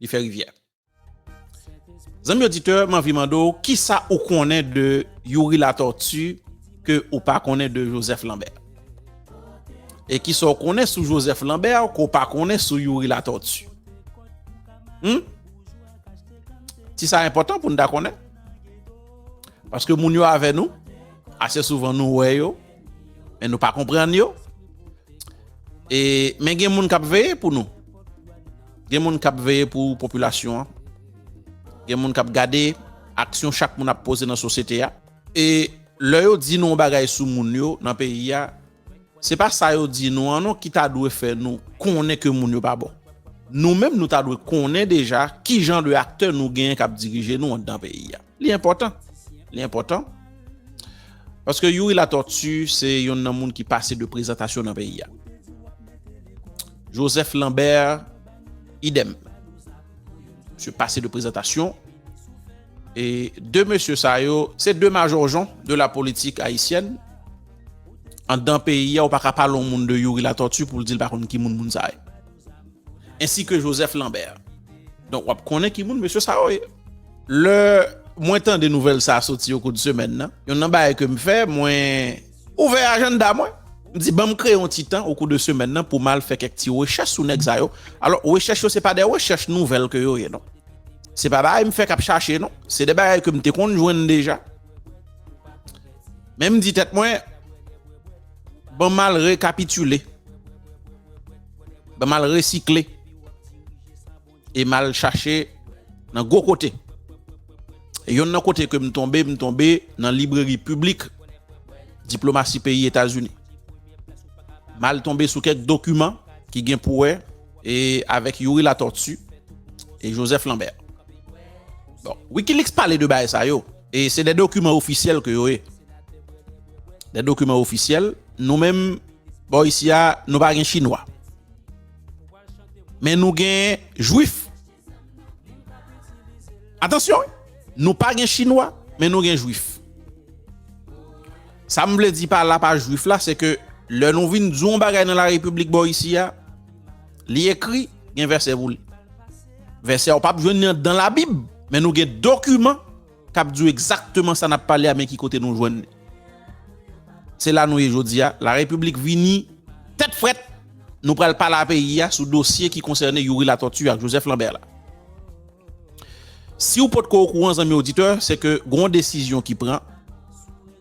li fè rivyè. Zanmi oditè, m anvi mande w kisa ou konnen de Youri Latortue ke ou pa konnen de Joseph Lambert? E kisa w konnen sou Joseph Lambert ke w pa konnen sou Youri Latortue? Hum? Ti sa enpòtan pou n ta konnen. Paske moun yo avè nou, ase souvan nou wè yo, Men nou pa konprann yo. E men gen moun kap veye pou nou. Gen moun kap veye pou popilasyon an. Gen moun kap gade aksyon chak moun ap poze nan sosyete a. E lè yo di nou yon bagay sou moun yo nan peyi a, se pa sa yo di nou an non ki ta dwe fè nou konnen ke moun yo pa bon. Nou menm nou ta dwe konnen deja ki jan de aktè nou genyen kap dirije nou anndan peyi a. Li enpòtan, li enpòtan. Paske Youri Latortue se yon nan moun ki pase de prezantasyon nan peyi a. Joseph Lambert, idem. Se pase de prezantasyon. E de mesye sa yo, se de majorjon de la politik ayisyèn. An dan peyi a, ou pa ka pale yon moun de Youri Latortue pou l di l pa konn ki moun moun sa yo. ainsi que Joseph Lambert. Donk wap konnen ki moun mesye sa yo ye. Lè mwen tande nouvèl sa soti o kou de semèn nan, yonn nan bagay ke m fè, mwen ouvè ajanda mwen, m di banm kreye yon ti tan o kou de semèn nan pou m al fè kèk ti rechèch sou nèg sa yo. Alò, rechèch yo se pa de rechèch nouvèl ke yo ye non. Se pa bagay m fèk ap chache non. Se de bagay ke m te konn jwenn deja. Men m di tèt mwen, banm al rekapitile. Ban mal resikle e mal chache nan gwo kote. Yon nan kote ke m tonbe, m tonbe nan libreri piblik diplomasi peyi Etazini. Mal tonbe sou kèk dokiman ki gen pou wè e avèk Youri Latortue e Joseph Lambert. Bon, Wikileaks pale de bagay sa yo e se de dokiman ofisyèl ke yo ye. De dokiman ofisyèl, nou menm. Bò isi a nou pa gen chinwa Men nou gen jwif Atansyon wi Nou pa gen chinwa men nou gen jwif Sa m vle di pa la pa jwif la se ke lè nou vin di yon bagay nan la repiblik bò isi a li ekri gen vèsè pou li Vèsè a ou pap jwenn li andan labib men nou gen dokiman Kap di w egzakteman sa nap pale a men ki kote nou jwenn li. Se la nou ye jodi a, la repiblik vini tèt frèt, nou pral pale a peyi a sou dosye ki konsène Youri Latortue ak Joseph Lambert la. Si w potko okouran zanmi oditè, se ke gen yon desizyon ki pran,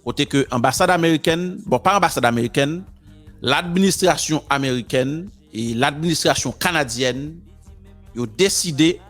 kote ke anbasad amerikèn, bon pa anbasad amerikèn, ladministrasyon amerikèn e ladministrasyon kanadyèn yo deside,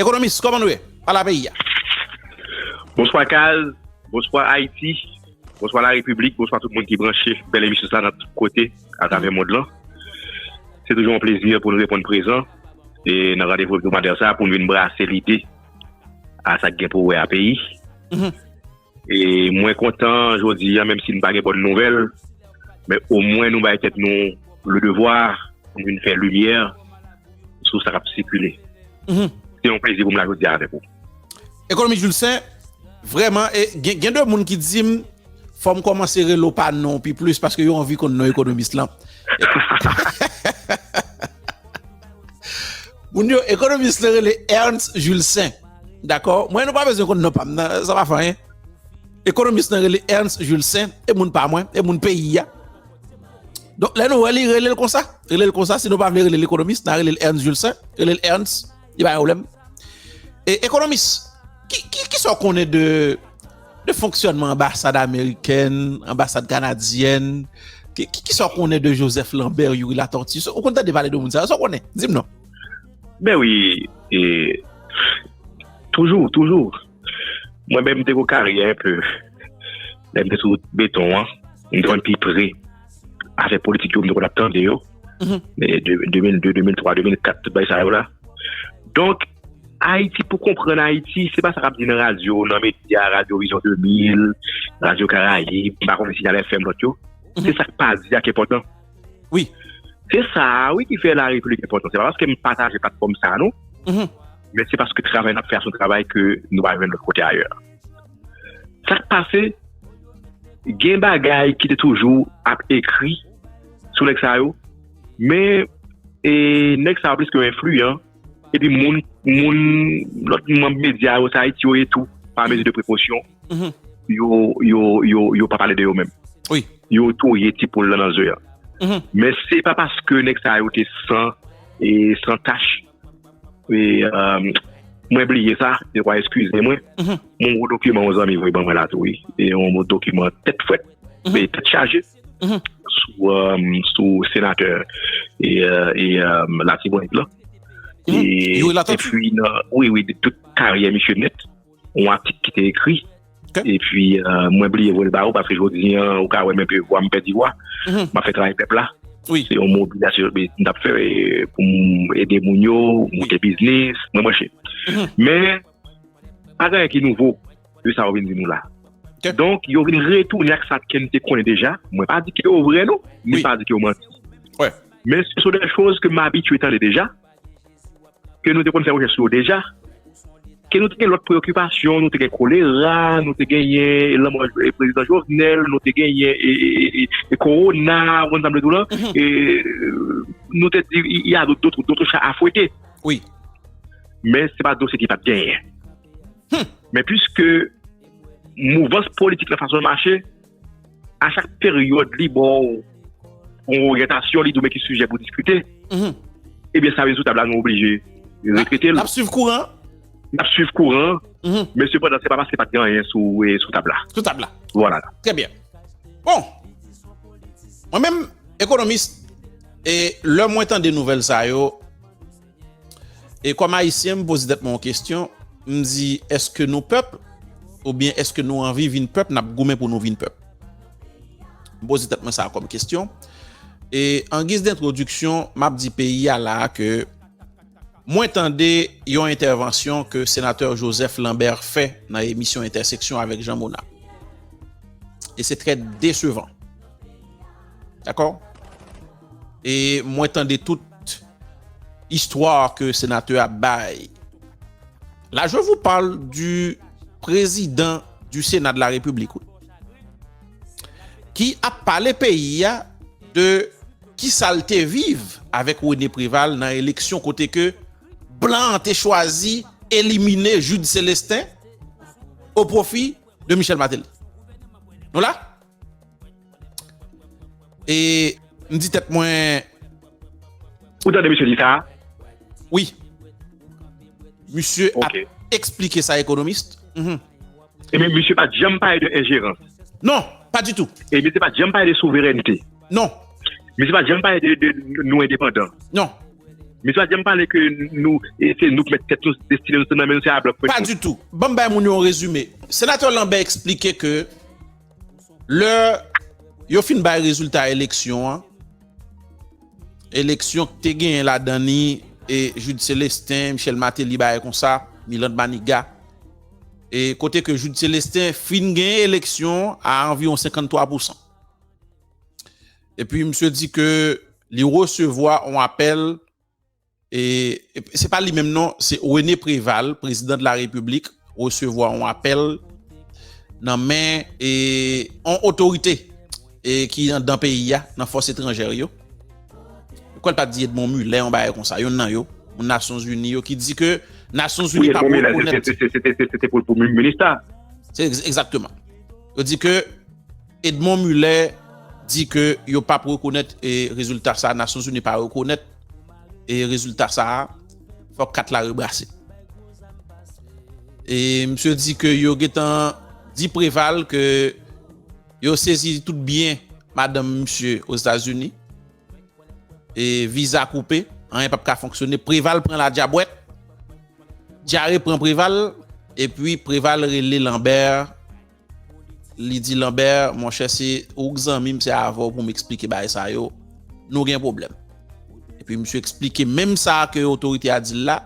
Ekonomis, kòman nou ye? Pala peyi a. Bonswa Kaz, bonswa Ayiti, bonswa la Repiblik, bonswa tout moun ki branche bèl emisyon sa nan tout kote atravè mond lan. Se toujou yon plezi pou nou reponn prezan e nan randevou hebdomadè sa pou nou vin brase lide a sa ki gen pou wè a peyi. Mwen kontan jodi an menm si nou pa gen bòn nouvèl men omwen nou bay tèt nou le devwa pou nou vin fè limyè sou sa k ap sikile. Se yon plezi pou m la jodi a avèk ou. Ekonomis Julcin, vrèman e gen de moun ki di m fò m kòmanse rele w pa non w pi plis paske yo anvi konn non ekonomis lan. Moun yo, ekonomis lan rele Ernst Julcin. Dakò, mwen nou pa bezwen konn non pam nan, sa pa fè anyen. Ekonomis nan rele Ernst Jules Saint, e moun pa mwen, e moun peyi a. Donk lè nou wè li rele l konsa, rele l konsa, si nou pa vle rele l ekonomis, nan rele l Ernst Jules Saint, rele l Ernst, li pa gen pwoblèm. E ekonomis, ki, ki, ki sa w konnen de, de fonksyònman anbasad amerikèn, anbasad kanadyèn, ki, ki sa w konnen de Joseph Lambert, Youri Latortue, ou konn tande pale de moun sa yo, sa w konnen? Di m non. Ben wi, e, toujou, toujou. Mwen menm m te gen yon karyè un peu, lè m te sou beton an, m te konn pi pre afè politik yo, m te konn ap tande yo, 2002, 2003, 2004, tout bagay sa yo la. Donk, Ayiti, pou konprann Ayiti, se pa sa k ap di nan radyo, nan medya, radyo Orizon 2000, radyo Karayib, m pa konnen Sinyal FM, lòt yo, se sa k pa di a k enpòtan. Oui. Se sa a wi ki fè la replik enpòtan. Se pa paske m pataje patfòm sa a nou. Mm-hmm. Men se paske travay n ap fè a son travay ke nou pa jwenn lòt kote ayè. Sa k pase, gen bagay ki te toujou ap ekri sou nèg sa yo, men e nèg sa yo pliske enfliyan epi moun, moun, lòt manb medya yo sa ayiti yo ye tou, pa mezi de prekosyon, yo, yo, yo, yo pa pale de yo menm. Wi. Yo touye ti poul lan nan ze a. Men se pa paske nèg sa yo te san, e san tach, e, euh, mwen bliye sa, dekwa eskize mwen, mwen gwo dokiman yon zanmi voye ban mwen la tou wi, e yon dokiman tèt frèt, e tèt chaje. sou senatè Latibonit la epi nan wi wi de tout karyè misye net ou a tit ki te ekri epi mwen bli evol ba ou paske jodi an ou ka wè men pe wam pedi wwa ma fè travay pepla se yon mou bida se yon tap fè pou m ede moun yo mou te biznis mwen mwen che men a gen yon ki nouvo de sa ou vin di nou la. Donk, yo vin retounen ak sa Ken te konnen deja. Mwen pa di ke yo vre non, ni pa di ke yo manti. Men se sou de choz ke m abitye tande deja, ke nou te konn fè rechèch sou yo deja, ke nou te gen lòt preokipasyon, nou te gen kolera, nou te genyen lanmò prezidan Jovenel, nou te genyen e korona, ou konn sa m vle di w lan, nou te di y a doto cha a fwete. Men se pa dosye ki pat genyen. Men pwiske mouvans politik la fason l mache, a chak peryòd li ba w yon oryantasyon, li di w men ki sijè pou diskite, ebyen sa vle di sou tab la nou oblije repete l. N ap swiv kouran an. N ap swiv kouran an, men sepandan se pa paske pa t gen anyen sou tab la. Sou tab la. Vwala. Trè byen. Bon, mwen menm ekonomis, e lè mwen tande nouvèl sa yo, E kòm ayisyen m poze tèt mwen yon kestyon, m di eske nou pèp oubyen eske nou anvi vin pèp n ap goumen pou nou vin pèp? M poze tèt mwen sa kòm kestyon. E an giz dentwodiksyon m ap di peyi a la a ke mwen tande yon entèvansyon ke senatè Joseph Lambert fè nan emisyon Entèseksyon avèk Jean Mona. E se trè desevan. Dakò? E mwen tande tout istwa ke senatè ap bay. La je vous parle du prezidan du sena de la repiblik wi. Ki ap pale peyi a de ki sa l te viv avèk Rene Preval nan eleksyon kote ke blan an te chwazi elimine Jude Celestin o pwofi de Michel Martelly. Nou la? E m di tèt mwen. Ou tande misye di sa? Wi. Misye ap eksplike sa ekonomist. E men misye pa t janm pale de enjerans. Non, pa ditou. E misye pa t janm pale de souverènte. Non. Misye pa t janm pale de nou endepandan. Non. Misye pa t janm pale ke nou se nou ki mèt tèt nou, destine nou se nan men nou, se a blòk. Pa ditou. Ban m bay moun yo yon rezime. Senatè Lambert eksplike ke. Lè yo fin bay rezilta eleksyon an, eleksyon ki te genyen ladan li e Jude Celestin, Michel Martelly bagay konsa, Milande Maniga, e kote ke Jude Celestin fin genyen eleksyon a anviwon 53 pousan. Epi misye di ke li resevwa yon apèl, Se pa li menm non, se René Préval, prezidan de la Repiblik, resevwa yon apèl nan men yon otorite ki anndan peyi a, nan fòs etranjè yo. Ou kwè l pa t di Edmond Mulet yon bagay konsa, yonn nan yo, moun Nasyon Zini yo, ki di ke Nasyon Zini pa pou rekonèt. Wi, Edmond Mulet, se te pou l pou minista. Egzakteman. Yo di ke Edmond Muller di ke yo pap rekonèt rezilta sa a, Nasyonzini pa rekonèt rezilta sa a, fòk kat la rebrase. E misye di ke yo gentan di Preval ke yo sezi tout byen madanm misye Ozetazini, e viza koupe, anyen pap ka fonksyone, Preval pran ladyabwèt, dyare pran Preval, epi Preval rele Lambert. Li di Lambert, monchè se ou k zanmi m se avè w pou m eksplike bagay sa yo, nou gen pwoblèm. Epi misye eksplike menm sa ke otorite a di l la,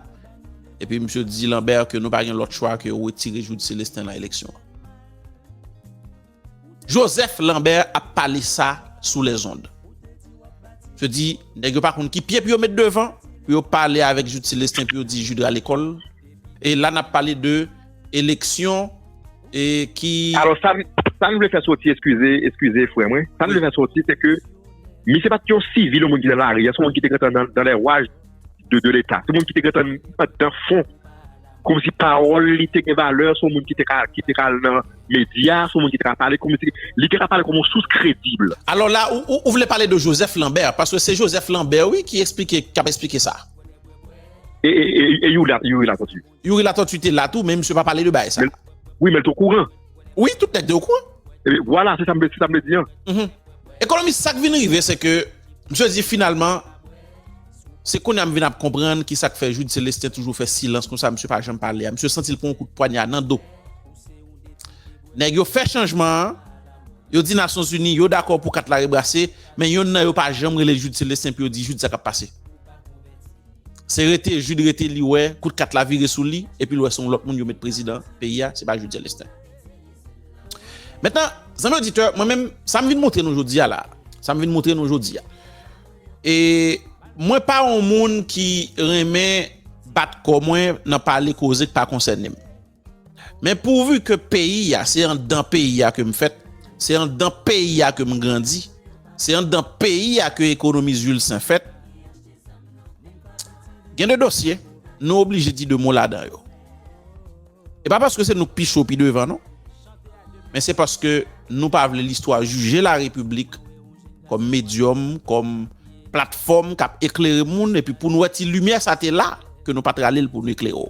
epi misye di Lambert ke nou pa gen lòt chwa ke wetire Jude Celestin lan eleksyon an. Joseph Lambert ap pale sa sou les ondes. Misye di, nèg yo pa konn ki pye pou yo met devan, pou yo pale avèk Jude Celestin pou yo di Jude rale kò l, e la n ap pale de eleksyon e ki. Alò sa m vle fè soti, eskize, eskize frè mwen, sa m vle fè soti se ke misye pa t yon sivil yon moun ki nan lari, se yon moun ki te gentan nan lè waj de leta, se yon moun ki te gentan anndan fon, kòmsi pawòl li te gen valè, se yon moun ki te ka al nan medya, se yon moun ki te ka pale kòmsi, li te ka pale kòm yon sous kredib. Alò la ou vle pale de Joseph Lambert, paske se Joseph Lambert wi ki esplike, k ap esplike sa. E Youri Latortue? Youri Latortue te la tou men misye pa pale de bagay sa. Wi men l t okouran. Wi tout nèg te okouran. Vwala se sa m vle di an. Ekonomis sak vin rive se ke misye di finalman se kounya m vin ap konprann ki sak fè Jude Celestin toujou fè silans konsa misye pa janm pale a misye santi l pran yon kout pwanya nan do. Nèg yo fè chanjman an yo di nasyon zini yo dakò pou kat la rebrase men yonn nan yo pa janm rele Jude Celestin pou yo di Jude sa k ap pase. Se rete Jude rete li wè kout kat la vire sou li epi l wè se yon lòt moun yo met prezidan peyi a, se pa Jude Celestin. Mentnan, zanmi oditè, mwen menm sa m vin montre nou jodi a la, sa m vin montre nou jodi a, e mwen pa yon moun ki renmen bat kò mwen nan pale koze k pa konsène m. Men pourvu ke peyi a, se andan peyi a ke m fèt, se andan peyi a ke m grandi, se andan peyi a ke ekonomi Zuilsaint fèt, gen de dosye nou oblije di de mo ladan yo. E pa paske se nou k pi cho, pi devan non, men se paske nou pa vle listwa jije la Repiblik kòm medyòm, kòm platfòm k ap eklere moun, epi pou nou wè ti limyè sa te la, ke nou pa t rale l pou nou eklere w.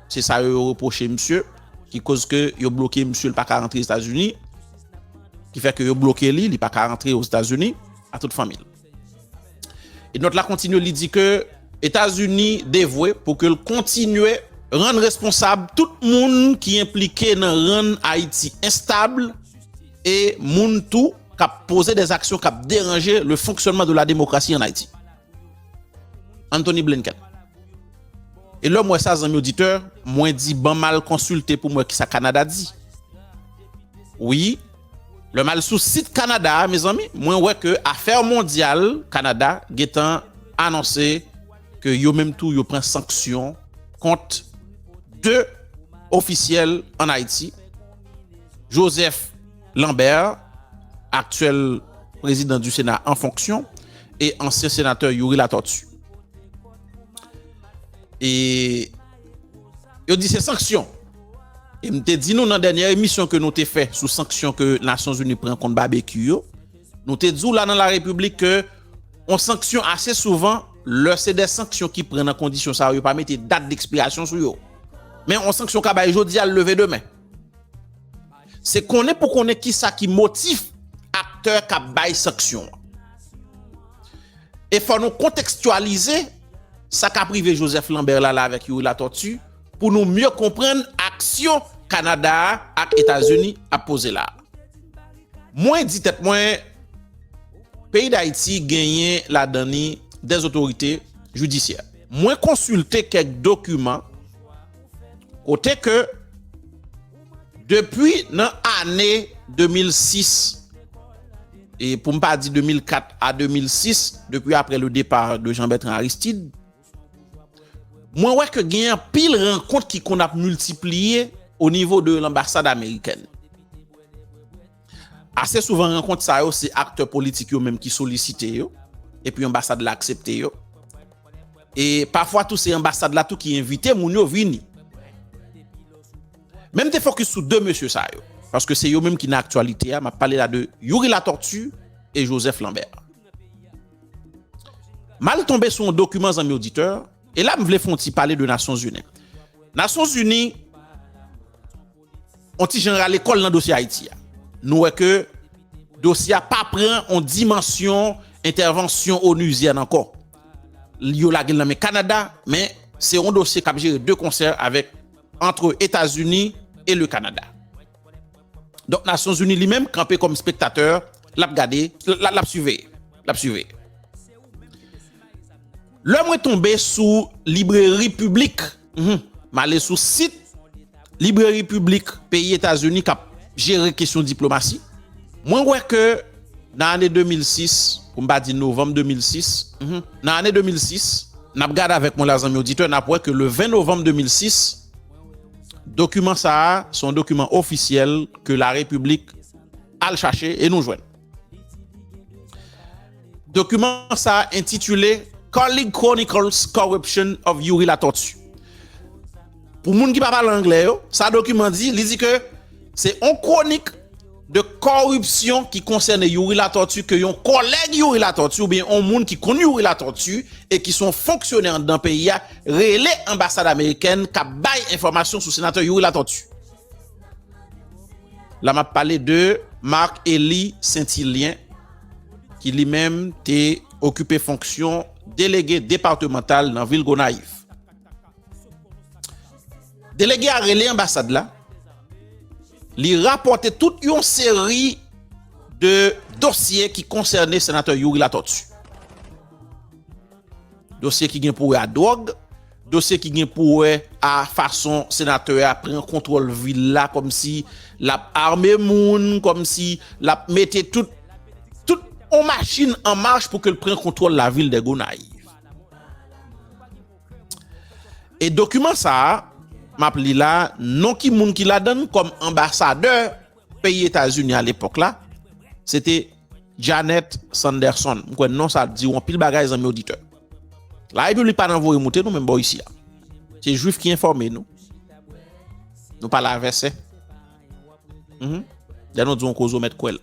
Se sa yo yo reproche misye ki koz ke yo bloke misye li pa ka rantre Etazini ki fè ke yo bloke li li pa ka rantre o Etazini a tout fanmi l. E nòt la kontinye li di ke Etazini devwe pou ke l kontinye rann responsab tout moun ki enplike nan rann Ayiti enstab e moun tou kap poze dè zaksyon kap deranje le fonksyònman de la demokrasi an Ayiti. Anthony Blinken. E lèm wè sa zanmi oditè, mwen di ban mal konsilte pou mwen kisa Kanada di. Wi, lèm al sou sit Kanada a mezanmi, mwen wè ke afè mondyal Kanada gentan anonse ke yo menm tou yo pran sanksyon kont 2 ofisyèl an Ayiti, Joseph. Lambert, aktyèl prezidan di Sena an fonksyon, e ansyen senatè Youri Latortue. E yo di se sanksyon. E m te di nou nan dènyè emisyon ke nou te fè sou sanksyon ke Nasyon Zini pran kont Babekyou yo, nou te di w la nan La Repiblik ke yon sanksyon ase souvan lè se de sanksyon ki pran nan kondisyon sa yo, yo pa mete dat dekspirasyon sou yo. Men yon sanksyon ka bay jodi a, l leve demen. Se konnen pou konnen kisa ki motif aktè k ap bay sanksyon an. E fò nou kontekstyalize sa k ap rive Joseph Lambert la la avèk Youri Latortue pou nou mye konprann aksyon Kanada a ak Etazini ap poze la a. Mwen di tèt mwen, peyi Dayiti genyen ladan li dè zotorite jidisyè. Mwen konsilte kèk dokiman kote ke. Depi nan ane 2006, e pou m pa di 2004 a 2006, depi aprè le départ de Jean-Bertrand Aristide, mwen wè ke gen anpil rankont ki konn ap miltipliye o nivo de l'ambassade américaine. Ase souvan rankont sa yo se aktè politik yo menm ki solisite yo, epi anbasad la aksepte yo. E pafwa tou se anbasad la tou ki envite moun yo vini. Men m te fokis sou 2 mesye sa yo, paske se yo menm ki nan aktyalite a, m ap pale la de Youri Latortue e Joseph Lambert. M al tonbe sou yon dokiman zanmi oditè, e la m vle fon ti pale de Nasyonzini. Nasyonzini. on ti jan rale kò l nan dosye Ayiti a. Nou wè ke dosye a pa pran on dimansyon entèvansyon onuzyèn ankò. Yo lage l nan men Kanada, men se on dosye k ap jere de konsè avèk antre Etazini e le Kanada. Donk Nasyonzini li menm kanpe kòm spektatè, l ap gade, l ap siveye, l ap siveye. Lè mwen tonbe sou libreri piblik, m ale sou sit libreri piblik peyi Etazini k ap jere kesyon diplomasi, mwen wè ke nan ane 2006, pou m pa di novanm 2006, nan ane 2006, n ap gade avèk mwen la zanmi oditè, n ap wè ke le 20 novanm 2006, dokiman sa a se yon dokiman ofisyèl ke larepiblik al chache e nou jwenn. Dokiman sa a entitile Colleague Chronicles Corruption of Youri Latortue. Pou moun ki pa pale anglè yo, sa dokiman di, li di ke se on kronik de koripsyon ki konsène Youri Latortue ke yon kolèg Youri Latortue oubyen on moun ki konn Youri Latortue e ki son fonksyonè anndan peyi a rele anbasad amerikèn k ap bay enfòmasyon sou senatè Youri Latortue. La map pale de Marc Eli Sentilyen ki li menm te okipe fonksyon delege departemantal nan vil Gonayiv. Delege a rele anbasad la, li rapote tout yon seri de dosye ki konsène senatè Youri Latortue. Dosye ki gen pou wè a dwòg, Dosye ki gen pou wè a fason senatè a pran kontwòl vil la kòmsi l ap ame moun, kòmsi l ap mete tout tout yon machin an mach pou ke l pran kontwòl lavil dè Gonayiv. E dokiman sa a m ap li la non ki moun ki ladan l kòm anbasadè. Peyi Etazini a lepòk la, se te Janet Sanderson. M kwè non sa di ou anpil bagay zanmi oditè. La Repiblik pa nan voye moute nou menm bò isi a. Se jwif ki enfòme nou. Nou pale a vèsè. Lè nou di yon koze ou mèt kwè l.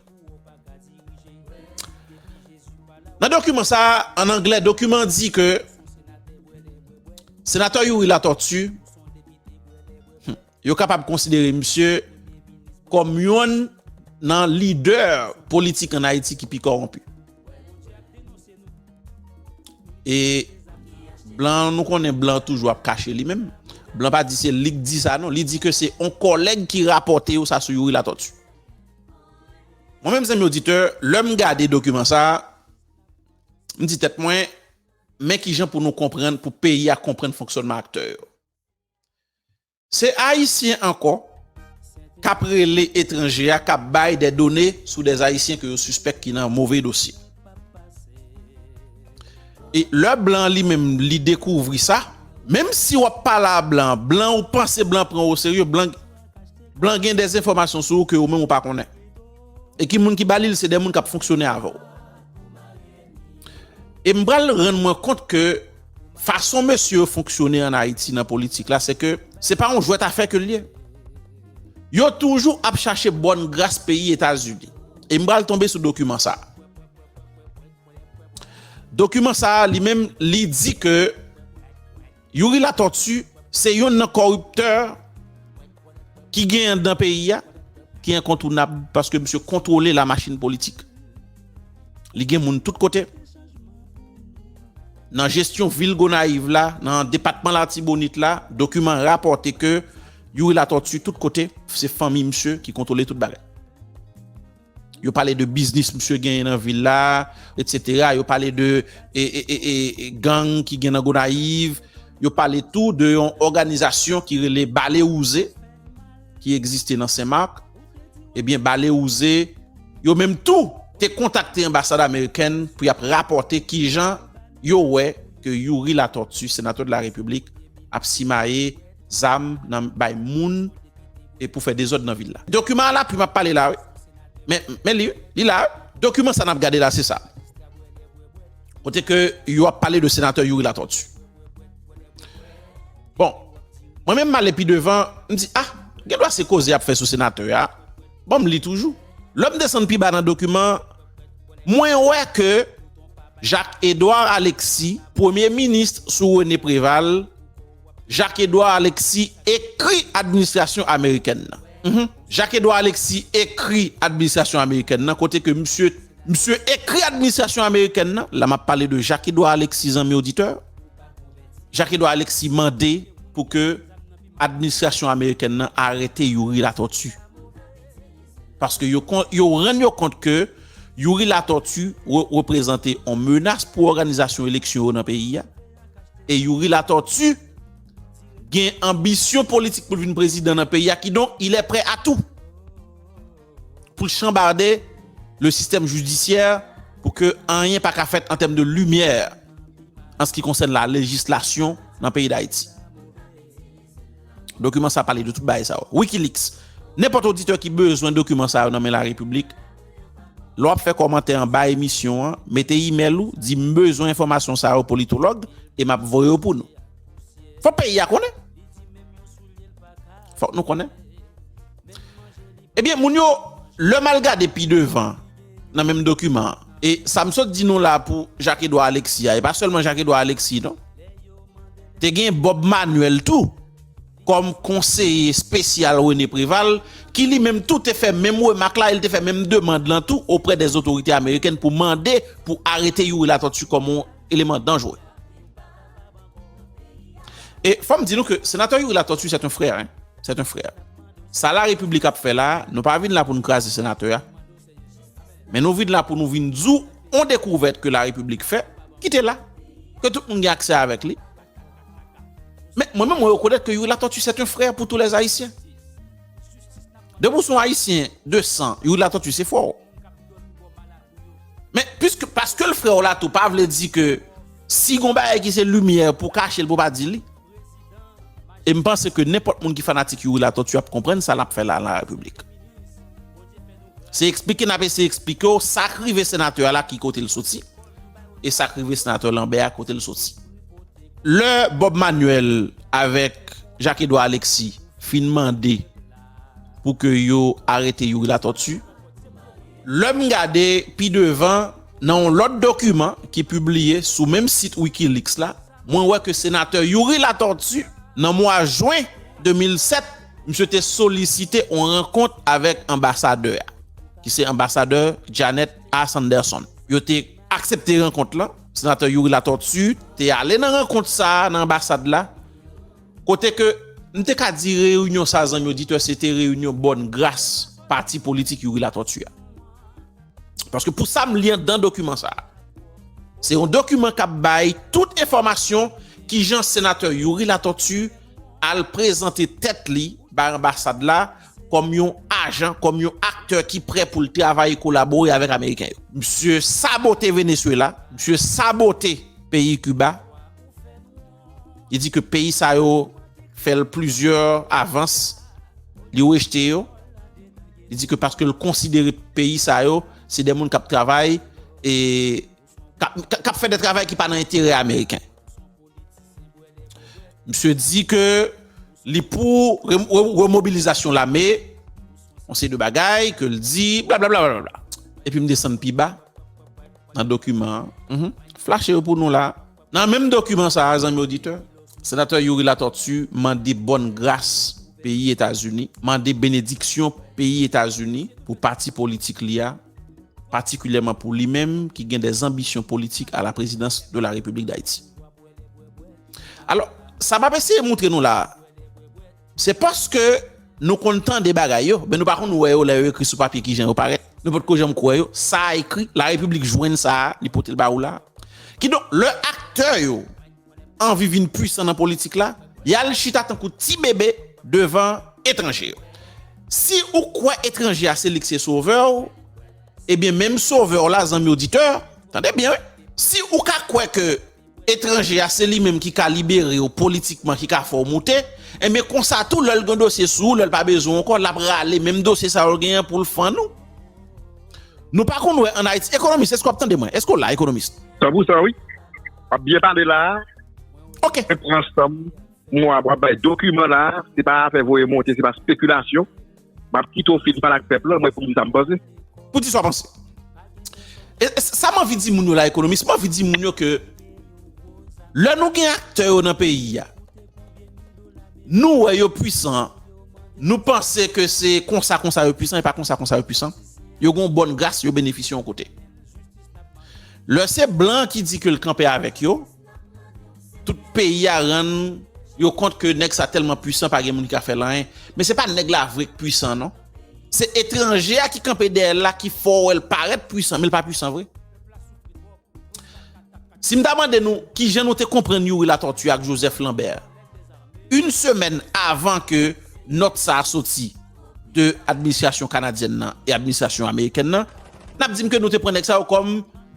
Nan dokiman sa, an anglè, dokiman an di ke Senatè Youri Latortue. Yo kapab konsidere misye kòm yonn nan lidè politik an Ayiti ki pi kòwonpi. E blan, nou konnen blan toujou ap kache li menm. Blan pa di se li ki di sa non, li di ke se yon kòlèg ki rapòte yo sa sou Youri Latortue. Mwen menm zanmi oditè, lè m gade dokiman sa, m di tèt mwen, men kijan pou nou konprann, pou peyi a konprann fonksyònman aktè yo. Se ayisyen ankò kap rele etranje a kap bay dè done sou dè ayisyen ke yo sispèk ki nan move dosye. E lè blan an li menm li dekouvri sa, menm si wap pale a blan, blan ou panse blan pran ou o serye, blan gen dè enfòmasyon sou ou ke ou menm ou pa konnen. E ki moun ki ba li l se dè moun kap fonksyone avè w. E m pral rann mwen kont ke fason mesye yo fonksyone an Ayiti nan politik la se ke se pa yon jwèt afè ke l ye. Yo toujou ap chache bòn gras peyi Etazini. E m pral tonbe sou dokiman sa a. Dokiman sa a li menm li di ke. Youri Latortue se yonn nan kòriptè ki gen anndan peyi a ki enkontounab paske misye kontwole la machin politik. Li gen moun tout kote. Nan jesyon vil Gonayiv la, nan depatman Latibonit la, dokiman rapòte ke Youri Latortue tout kote, se fanmi misye ki kontwole tout bagay. Yo pale de biznis misye genyen nan vil la, etc. Yo pale de gang ki gen nan Gonayiv. Yo pale tou de yon òganizasyon ki rele Bale Wouze, ki egziste nan Senmak. Ebyen, Bale Wouze, yo menm tou te kontakte anbasad amerikèn pou y ap rapòte ki jan yo wè ke Youri Latortue, senatè de la Repiblik, ap simaye zam nan bay moun e pou fè dezòd nan vil la. Dokiman a lapui map pale la wi. Men, men li wi, li la wi. Dokiman sa nap gade la se sa. Kote ke yo ap pale de senatè Youri Latortue. Bon, mwen menm male pi devan, m di ah, gen dwa se koze yap fè sou senatè a. Bon, m li toujou. Lè m desann pi ba nan dokiman, mwen wè ke Jacques Edouard Alexis, premye minis sou René Préval, Jacques Edouard Alexis ekri administrasyon amerikèn nan. Jacques Edouard Alexis ekri administrasyon amerikèn nan kote ke misye misye ekri administrasyon amerikèn nan, la map pale de Jacques Edouard Alexis zanmi oditè, Jacques Edouard Alexis mande pou ke administrasyon amerikèn nan arete Youri Latortue. Paske yo kon yo rann yo kont ke Youri Latortue reprezante yon menas pou òganizasyon eleksyon yo nan peyi a. E Youri Latortue gen anbisyon politik pou l vin prezidan nan peyi a kidonk il est prêt à tout pou l chanbarde le système judiciaire pou ke anyen pa ka fèt an tèm de lumière an se ki konsène la législation nan peyi d'Haïti. Dokiman sa pale de tout bagay sa yo. Wikileaks, Nenpòt oditè ki bezwen dokiman sa yo nan men larepiblik, lè w ap fè kòmantè anba emisyon an, mete imèl ou, di m bezwen enfòmasyon sa yo politològ e m ap voye yo pou nou. Fòk peyi a konnen. Fòk nou konnen. Ebyen moun yo, lè m al gade pi devan nan menm dokiman an, e sa m sot di nou la pou Jacques Edouard Alexis a, e pa sèlman Jacques Edouard Alexis non, Te gen Bob Manuel tou, kòm konseye espesyal René Préval, ki li menm tou te fè menm remak la, e li te fè menm demand lan tou oprè dè zotorite amerikèn pou mande pou arete Youri Latortue kòm yon eleman danjre. E fò m di nou ke Senatè Youri Latortue sèt yon frè, sèt yon frè. Sa La République ap fè la, nou pa vin la pou nou kraze Senatè a, Men nou vin la pou nou vin di w yon dekouvèt ke larepiblik fè, ki te la, ke tout moun gen aksè avèk li. Men, mwen menm mwen rekonèt ke Youri Latortue c'est un frère pour tous les Haïtiens. Depi w se yon Ayisyen de san, Youri Latortue se frè w. Men, puiske, paske l frè w la tou pa vle di ke si gen yon bagay ki se limyè pou w kache l pou w pa di li. E m panse ke nenpòt moun ki fanatik Youri Latortue ap konprann sa l ap fè la nan Larepiblik. Se eksplike n ap eseye eksplike w sa k rive senatè a la ki kote l soti e sa k rive senatè Lanbè a kote l soti. Lè Bob Manuel avèk Jacques Edouard Alexis fin mande pou ke yo arete Youri Latortue, lè m gade pi devan nan yon lòt dokiman ki pibliye sou menm sit Wikileaks la, Mwen wè ke Senatè Youri Latortue, nan mwa jwen 2007, misye te solisite yon rankont avèk anbasadè a, ki se anbasadè Janet A. Sanderson. Yo te aksepte rankont lan. Senatè Youri Latortue te ale nan rankont sa a nan anbasad la, kote ke m te ka di reyinyon sa a, zanmi oditè, se te reyinyon bòn gras pati politik Youri Latortue a. Paske pou sa m li anndan dokiman sa a, se yon dokiman k ap bay tout enfòmasyon ki jan Senatè Youri Latortue al prezante tèt li bay anbasad la kòm yon ajan, kòm yon aktè ki prè pou l travay, kolabore avèk ameriken yo. Msye sabote Venezuela, msye sabote peyi Kiba. Li di ke peyi sa yo fè l plizyè avans, li rejte yo. Li di ke paske l konsidere peyi sa yo se de moun k ap travay e k ap fè de travay ki pa nan enterè ameriken. Misye di ke li pou remobilizasyon lame, yon seri de bagay ke l di, blablabla. Epi m desann pi ba nan dokiman an. Flache yo pou nou la. Nan menm dokiman sa a, zanmi oditè, Senatè Youri Latortue mande bòn gras peyi Etazini, mande benediksyon peyi Etazini pou pati politik li a, patikilyèman pou li menm ki gen de zanbisyon politik a la prezidans de la Repiblik Dayiti. Alò, sa m ap eseye moutre nou la a, Se paske nou konn tande bagay yo, men nou pa konn wè yo lè yo ekri sou papye kijan yo parèt. Nou potko janm kwè yo. Sa a ekri, La Repiblik jwenn sa a, li pote l ba ou la a. Kidonk, lè aktè yo anvi vin puisan nan politik la, y al chita tankou ti bebe devan etranje yo. Si ou kwè etranje a se li k se sovè ou, ebyen menm sovè w la, zanmi oditè, tande byen wi, si ou ka kwè ke, etranje a se li menm ki ka libere w politikman ki ka fè w moute, enben konsa tou lè l gen dosye sou ou lè l pa bezwen w ankò l ap rale menm dosye sa yo l genyen pou l fann ou. Nou pa konn wè an Ayiti, Ekonomis èske w ap tande mwen? Èske w la Ekonomis? San pou san wi, w ap byen pale la a. Ok. Mwen pran san m, mwen ap bay dokiman la a, se pa afè voye monte, se pa spekilasyon. Map kite w fin pale ak pèp lan mwen pou m di sa m panse. Pou di sa w panse. E sa m anvi di moun yo la ekonomis, m anvi di moun yo ke lè nou gen aktè yo nan peyi a, nou wè yo pwisan, nou panse ke se konsa konsa yo pwisan e pa konsa konsa yo pwisan. Yo gen yon bòn gras, yo benefisye yon kote. Lè se blan ki di ke l kanpe avèk yo. Tout peyi a rann yo kont ke nèg sa tèlman pwisan pa gen moun ki ka fè l anyen. Men se pa nèg la vre k pwisan non. Se etranje a ki kanpe dèyè l la ki fè w wè l parèt pwisan men l pa pwisan vre. Si m ta mande nou ki jan nou te konprann Youri Latortue ak Joseph Lambert yn semèn avan ke nòt sa soti de administrasyon kanadyèn nan e administrasyon amerikèn nan, n ap di m ke nou te pran nèg sa yo kòm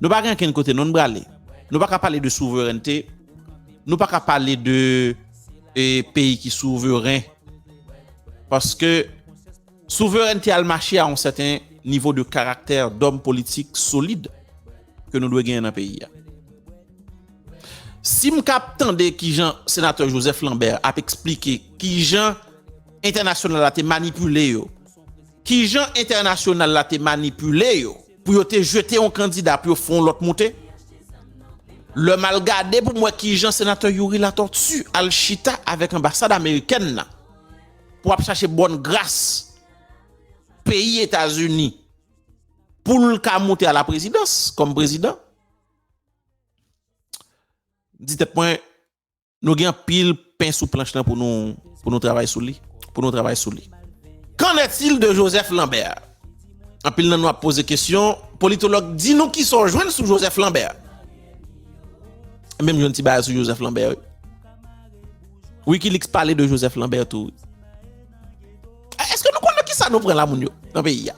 Nou pa gen ankenn kote non brale. Nou pa ka pale de souverènte. Nou pa ka pale de peyi ki souveren. Paske souverènte al mache a yon sèten nivo de karaktè dòm politik solid ke nou dwe genyen nan peyi a. Si m ka ap tande ki jan Senatè Joseph Lambert ap eksplike ki jan entènasyonal la te manipile yo, ki jan entènasyonal la te manipile yo, pou yo te jete yon kandida pou yo fè yon lòt moute, lè m al gade pou m wè ki jan senatè Youri Latortue al chita avèk anbasad amerikèn nan pou ap chache bòn gras peyi Etazini pou l ka moute alaprezidans kòm prezidan, m di tèt mwen. Nou gen anpil pen sou planch lan pou nou travay sou li. Pou nou travay sou li. Qu'en est-il de Joseph Lambert? Anpil nan nou ap poze kesyon. Politolog, di nou ki sa w jwenn sou Joseph Lambert? Menm jwenn ti bagay sou Joseph Lambert. Wikileaks pale de Joseph Lambert tou. Eske nou konnen ki sa nou pran la moun yo nan peyi ya?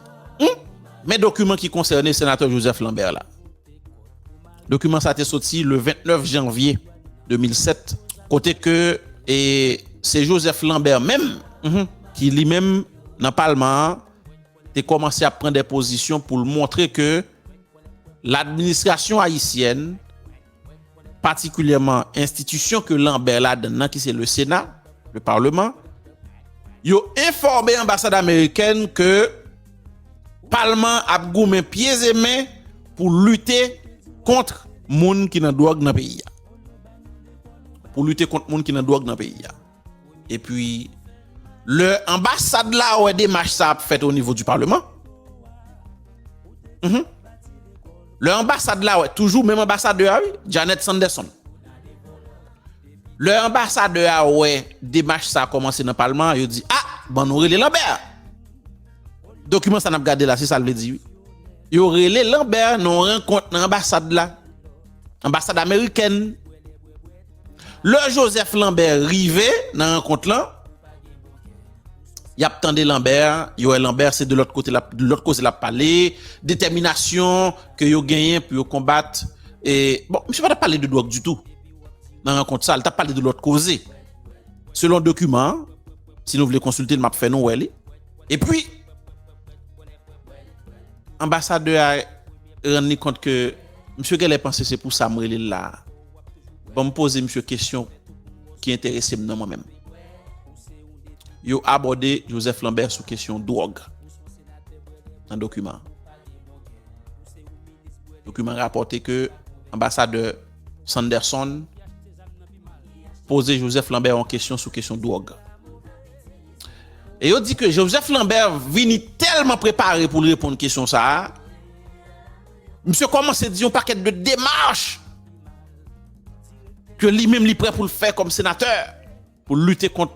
Men dokumen ki konsènen senatè Joseph Lambert la. Dokiman sa te soti le 29 janvye 2007 kote ke e se Joseph Lambert menm ki li menm nan palman an te kòmanse ap pran de pozisyon pou l montre ke ladministrasyon ayisyèn patikilyèman enstitisyon ke Lambert ladann nan ki se le Sena, le Parlement, yo enfòme anbasad amerikèn ke Palman an ap goumen pyez e men pou lite kontr moun ki nan dwòg nan peyi a. Pou lite kontr moun ki nan dwòg nan peyi a. E pi lè anbasad la wè demach sa ap fèt o nivo di palman. Hum. Lè anbasad la wè, toujou menm anbasadè a wi, Janet Sanderson. Lè anbasadè a wè demach sa kòmanse nan palman an, yo di, ah, ban nou rele Lambert. Dokiman sa n ap gade la se sa l vle di wi. Yo rele Lambert nan yon rankont nan anbasad la, anbasad amerikèn. Lè Joseph Lambert rive nan rankont lan, y ap tande Lambert, yo wè Lambert se de lòt kote l ap, lòt koze l ap pale, detèminasyon ke yo genyen pou yo konbat e, bon, misye pa t ap pale de dwòg ditou nan rankont sa, li t ap pale de lòt koze selon dokiman an. Si nou vle konsilte l map fè nou wè li. Epi anbasadè a rann li kont ke misye genlè panse se pou sa m rele l la a. Bon m poze misye kesyon ki enterese m nan mwen menm. Yo abòde Joseph Lambert sou kesyon dwòg nan dokiman an. Dokiman an rapòte ke anbasadè. Sanderson poze Joseph Lambert yon kesyon sou kesyon dwòg. E yo di ke Joseph Lambert vini tèlman prepare pou l reponn kesyon sa a, misye kòmanse di yon pakèt de demach ke li menm li prè pou l fè kòm senatè. Pou lite kont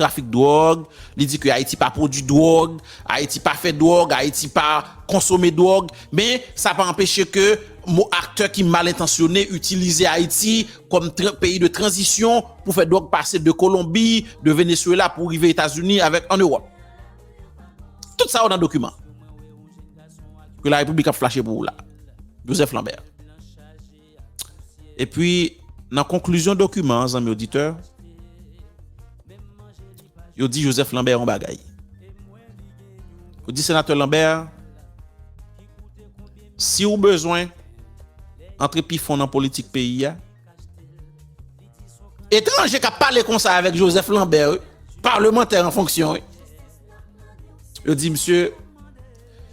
trafik dwòg, li di ke Ayiti pa pwodui dwòg, Ayiti pa fè dwòg, Ayiti pa konsome dwòg, men sa pa anpeche ke mo aktè ki mal entansyone itilize Ayiti kòm peyi de tranzisyon pou fè dwòg pase de Kolonbi, de Venezuela pou rive Etazini avèk an Ewòp. Tout sa yo nan dokiman ke la Repiblik ap flache pou ou la, Joseph Lambert. Epi, nan konklizyon dokiman an, zanmi oditè, yo di Joseph Lambert yon bagay. Yo di Senatè Lambert, si ou bezwen antre pi fon nan politik peyi a, etranje k ap pale konsa avèk Joseph Lambert wi, palmantè an fonksyon wi, Yo di msye,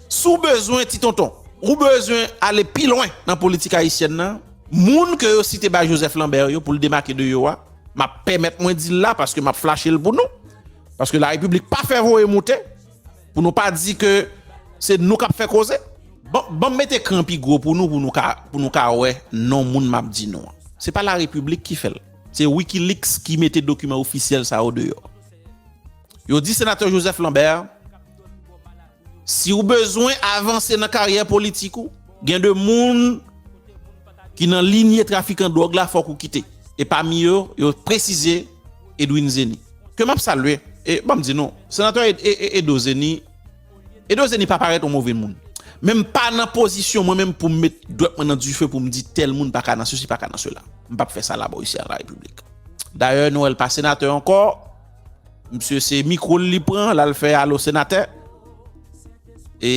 si w bezwen ti tonton, ou bezwen ale pi lwen nan politik ayisyèn nan, moun ke yo site bay Joseph Lambert yo pou l demake de yo a, m ap pèmèt mwen di l la paske m ap flache l pou nou, paske la repiblik pa fè voye moute, pou nou pa di ke se nou k ap fè koze. Ban m mete ekran pi gwo pou nou, pou nou ka wè non moun m ap di nou an. Se pa la repiblik ki fè l, se Wikileaks ki mete dokiman ofisyèl sa yo deyò. Yo di Senatè Joseph Lambert, Si ou bezwen avanse nan karyè politik ou, gen 2 moun ki nan linye trafikan dwòg la fòk ou kite. E pami yo, yo presize Edwin Zeni, ke m ap salye. E ban m di nou, Senatè Edo Zeni, Edo Zeni pa parèt yon move moun. Men m pa nan pozisyon mwen menm pou m met dwèt mwen nan dife pou m di tèl moun pa ka nan sesi, pa ka nan sela. M p ap fè sa la bò isi a nan Larepiblik. Dayè, Noël pa Senatè ankò. Misye se mikro l li pran l al fè alo senatè. E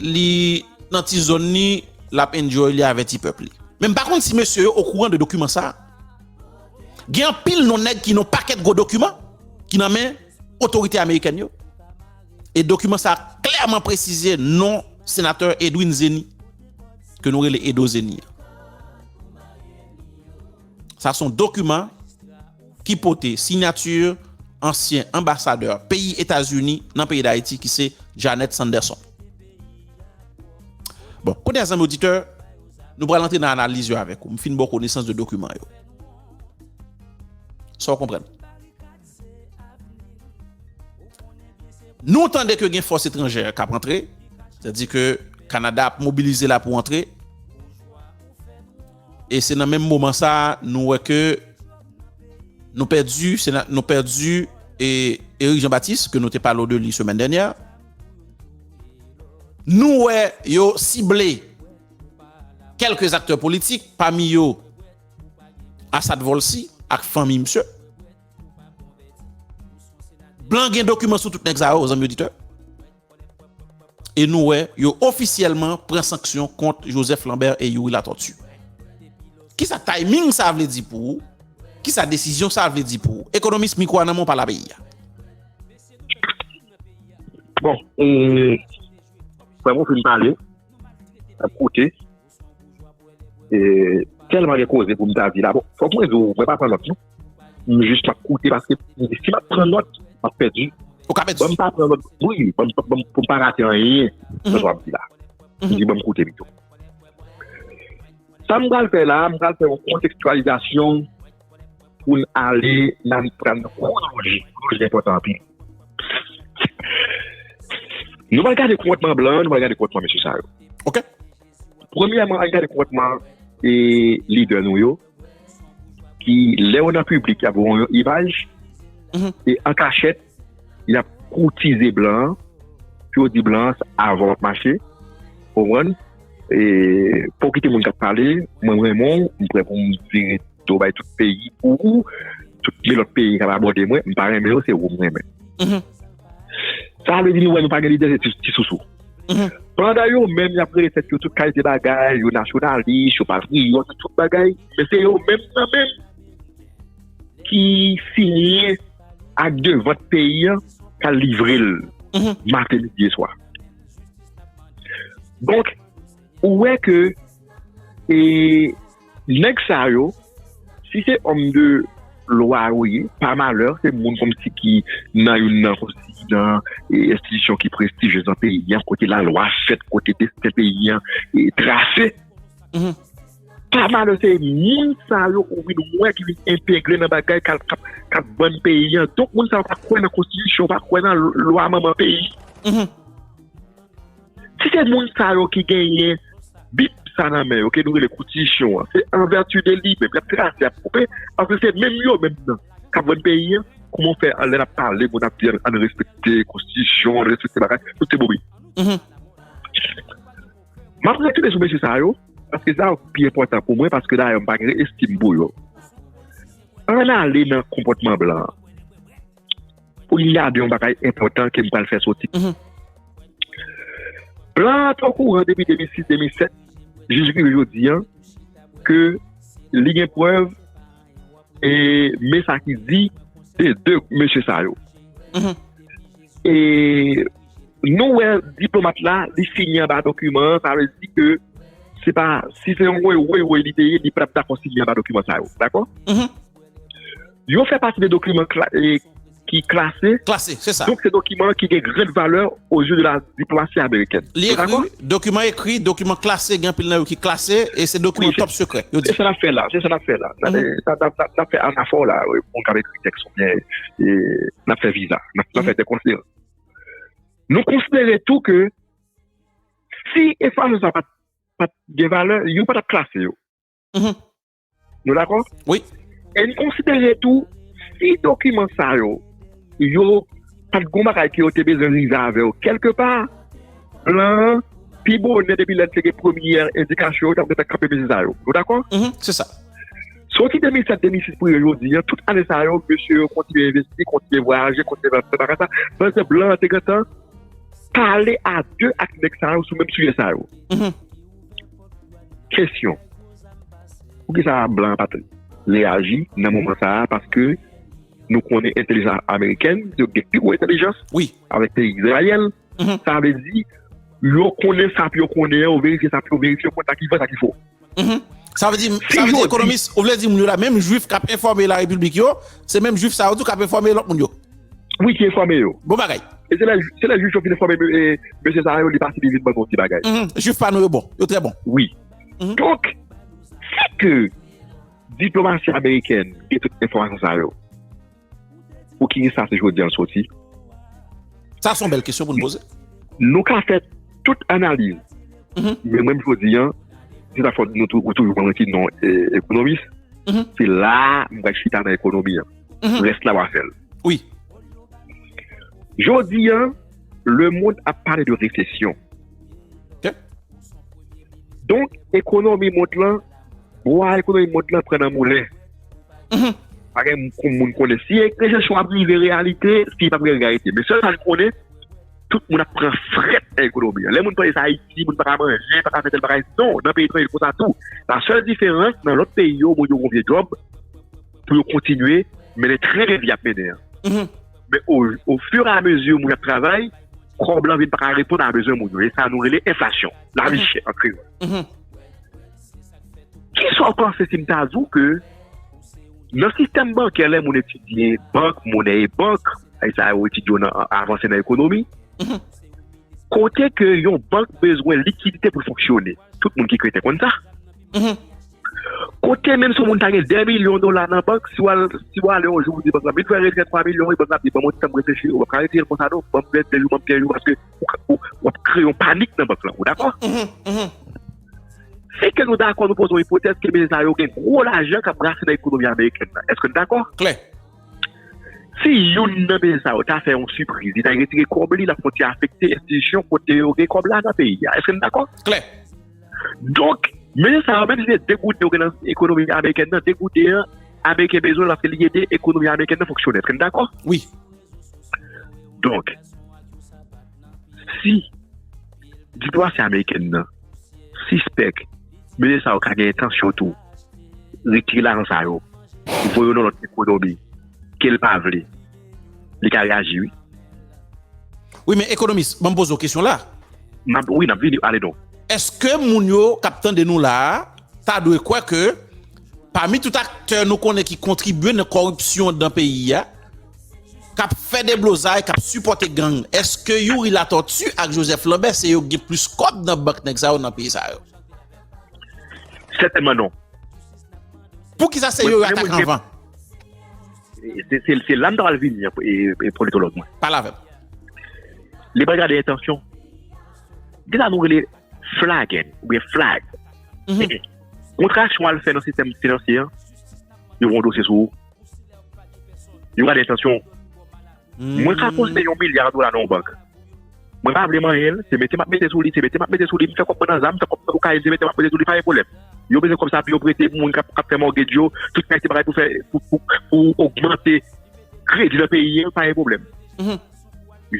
li nan ti zòn li, l ap enjoy li avè ti pèp li. Men m pa konn si mesye yo okouran de dokiman sa a. Gen anpil non nèg ki nan yon pakèt gwo dokiman ki nan men otorite amerikèn yo. E dokiman sa a klèman presize non senatè Edwin Zeni, ke nou rele Edo Zeni an. Sa son dokiman ki pote sinyati ansyen anbasadè peyi Etazini nan peyi Dayiti ki se Janet Sanderson. Bon, kounye a zanmi oditè, nou pral antre nan analiz yo avèk ou. M fin ba w konesans de dokiman yo. Sa w konprann? Nou tande ke gen fòs etranjè k ap antre, sa di ke Kanada ap mobilize la pou antre. e se nan menm moman sa nou wè ke nou pèdi sena nou pèdi e Eric Jean Baptiste ke nou te pale w de li semèn dènyè nou wè yo sible kèlke aktè politik pami yo Asad Volcy ak fanmi misye blan gen dokiman sou tout nèg sa yo zanmi oditè. E nou wè yo ofisyèlman pran sanksyon kont Joseph Lambert e Youri Latortue. Kisa timing sa vle di pou ou? Kisa desizyon sa vle di pou ou? Ekonomis, mikwo a nan men w, pale a peyi a. Bon, e, frè m ou fin pale, m ap koute. E telman gen koze pou m ta di la bon fok mwen di w mwen pa pran nòt non m jis map koute paske m di si map pran nòt map pèdi ban m pa pran nòt wi ban m pou m pa rate anyen nan sa w ap di la m di ban m koute pito sa m pral fè la m pral fè yon kontekstwalizasyon Pou n ale la n pral nan kou loji. Kou loji enpòtan anpil. Nou pral gade konpòtman blan an, nou pral gade konpòtman mesye sa yo. Ok. Premyèman, an n gade konpòtman e lidè nou yo ki lè yo nan piblik y ap voye yon imaj e an kachèt y ap koutize blan an, pou yo di blan an sa avan w ap mache, ou konprann? E fò w kite moun k ap pale, mwen renmen w, m prè pou m vire do bay tout peyi pou ou, tout ki lòt peyi k ap abòde mwen, m pa renmen yo, se ou m renmen. Sa vle di nou wè nou pa gen lidè, se ti sousou. Pandan yo menm y ap rele tèt yo tout kalite bagay, yo nasyonalis, yo patriyòt, tout bagay, men se yo menm nan menm ki siyen. ak de vant peyi an ka livre l maten midi e swa donk ou wè ke e nèg sa yo si se om de lwa yo ye pa malè se moun konm si ki nan yon nan konm si ki nan e enstitisyon ki prestijez nan peyi an kote la lwa fèt kote desten peyi an e trase Pa malè se moun sa yo ou vin wè ki vin entegre nan bagay kap ban peyi an. Donk moun sa yo pa kwè nan konstitisyon, pa kwè nan lwa manman peyi. Mm-hmm. Si se moun sa yo ki genyen bib sa nan men yo, ke nou rele konstitisyon an, se an vèti de li menm, yap trase, yap koupe, paske se menm yo menm nan kap ban peyi an. Kouman w fè an lè nap pale moun ap di an respekte konstitisyon, an respekte bagay, tout se bobe. Mm-hmm. M ap retounen sou mesye sa yo, paske sa yo ki pi enpòtan pou mwen, paske dayè m pa gen estim pou yo. Ann ale nan konpòtman blan. Pou n gade yon bagay enpòtan ke m pral fè soti. Blan an te okouran depi 2006, 2007, jis rive jodi an, ke li gen prèv, e men sa ki di de 2 mesye sa yo. E nou wè diplomat la li sini anba dokiman an, sa vle di ke se pa, si se yon woy woy woy li te ye, li pa t ap dakò sini anba dokiman sa yo. Dakò? Yo fè pati de dokiman ki klase. Klase, se sa. Donk se dokiman ki gen gran valè o je de la diplomasi amerikèn. Li ekri, dokiman ekri, dokiman klase, gen anpil nan yo ki klase, e se dokiman top sekrè. Se sa n ap fè la, se sa n ap fè la. N ap fè anafor la, moun k ap ekri tèks oubyen. n ap fè viza, n ap fè dekonsil. Nou konsidere tou ke si espas sa pat gen valè, yo pa t ap klase yo. Nou dakò? Wi. E n konsidere tou, si dokiman sa yo, yo pat gen yon bagay ke yo te bezwen rive avè yo kelke pa, plan an, pi bonè depi lè l te gen premye endikasyon, yo t ap gen tan kanpe viza yo. Nou dakò? Se sa. Soti 2007, 2006 pou rive jodi an, tout ane sa yo, mesye yo kontinye envesti, kontinye vwayaje, kontinye fè sa, fè sa, pandan se blan an te gentan pale a de ak nèg sa yo sou menm sijè sa yo. Kesyon, pou ki sa blan an pa te reyaji nan moman sa a, paske nou konnen entelijans amerikèn, yo gen pi gwo entelijans, avèk peyi Izrayèl. Sa vle di, yo konnen sa pou yo konnen, yo verifye sa pou yo verifye, yo konnen sa ki vrè, sa ki fo. Sa vle di, sa vle di ekonomis, ou vle di moun yo la, menm jwif k ap enfòme la repiblik yo, se menm jwif sa yo tou k ap enfòme lòt moun yo? Wi, ki enfòme yo. Bon bagay. E se lè, se lè jwif yo fin enfòme mesye sa yo, li pase li vin ban nou yon ti bagay. Jwif pa nou yo bon, yo trè bon. Wi. Donk, si ke diplomasi amerikèn gen tout enfòmasyon sa yo, Pou ki sa se jodi an l soti? Sa son bèl kesyon pou n poze. Nou ka fè tout analiz. Men menm jodi an, se ta fòt nou tou ou toujou mwen ki non ekonomis, se la m bay chita nan ekonomi an. Rès la w a fè l. Wi. Jodi an, lemond ap pale de resesyon. Ke? Donk, ekonomi mond lan, bwa ekonomi mond lan pran nan moulen. Mm-hmm. Pa gen moun konnen si enjeksyon ap rive reyalite, si pa gen reyalite. Men sèl sa n konnen, tout moun ap pran frèt nan ekonomi an. Lè moun panse se Ayiti, moun pa ka manje, pa ka fè tèl bagay. Non, nan peyi etranje se konsa tou. La sèl diferans, nan lòt peyi yo, moun yo gen vye djòb pou yo kontinye mennen tren ke vi ap mennen an. Mm-hmm. Men o fur a mezi moun ap travay, kòb lan vin pa ka reponn a bezwen moun yo. E sa nou rele enflasyon, la vi chè an kreyòl. Ki sa w panse si m ta di w ke nan sistèm bankè lè moun etidye bank, monè e bank, e sa yo etidye yo nan avanse nan ekonomi, kote ke yon bank bezwen likidite pou l fonksyone, tout moun ki kreten konn sa, kote menm si yon moun ta gen 2 milyon dola nan bank, si w al ale yon jou ou di bank lan, m vin fè retrè 3 milyon wi, bank lan ap di ban m yon ti tan m reflechi, ou pa ka retire l konsa non, ban m 2 jou, ban m 15 jou, paske w ap kreye yon panik nan bank lan, ou dakò? Èske nou dakò nou poze yon ipotèz ke medya sa yo gen gwo lajan k ap brase nan ekonomi amerikèn nan? Èske n dakò? Klè. Si youn nan medya sa yo ta fè yon sipriz, li ta retire kòb li, l ap kontinye afekte enstitisyon kote yo gen kòb la nan peyi a. Èske n dakò? Klè. Donk, medya sa yo, menm si se degoute yo gen nan ekonomi amerikèn nan, degoute an, Ameriken bezwen l paske li ede ekonomi amerikèn nan fonksyone. Èske n dakò? Wi. Donk. si diplomasi amerikèn nan sispèk mesye sa yo ka gen entansyon tou retire lajan sa yo voye yo nan lòt ekonomi ke l pa vle, li ka reyaji wi. Wi men ekonomis, banm poze w kesyon la. Wi, n ap vini, ale donk. Eske moun yo k ap tande nou la a ta dwe kwè ke pami tout aktè nou konnen ki kontribye nan kòripsyon dan peyi a, kap fè deblozay kap sipòte gang eske youri latòti ak jozèf lanbè se yo k gen plis kòb nan bank nèg sa yo nan peyi sa yo sètènman non poukisa se yo yo atak anvan se la m ta pral vini an e politològ mwen pale avè m li pa gade entansyon gen sa nou rele flaggen ou byen flag kontrasyon al fè nan sistèm finansye an yo pran dosye sou ou Yo gade entansyon w. Mwen ka poste yon milya dola nan yon bank. Mwen pa vle manyen l, se mete m ap mete sou li, se mete m ap mete sou li. M fè kòb mwen nan zam, m fè kòb mwen nan kokayin, se mete m ap mete sou li, pa gen pwoblèm. Yo bezwen kòb sa pou yo prete moun k ap fè mòtgedj yo, tout kalite bagay pou fè, pou ogmante kredi nan peyi an, pa gen pwoblèm.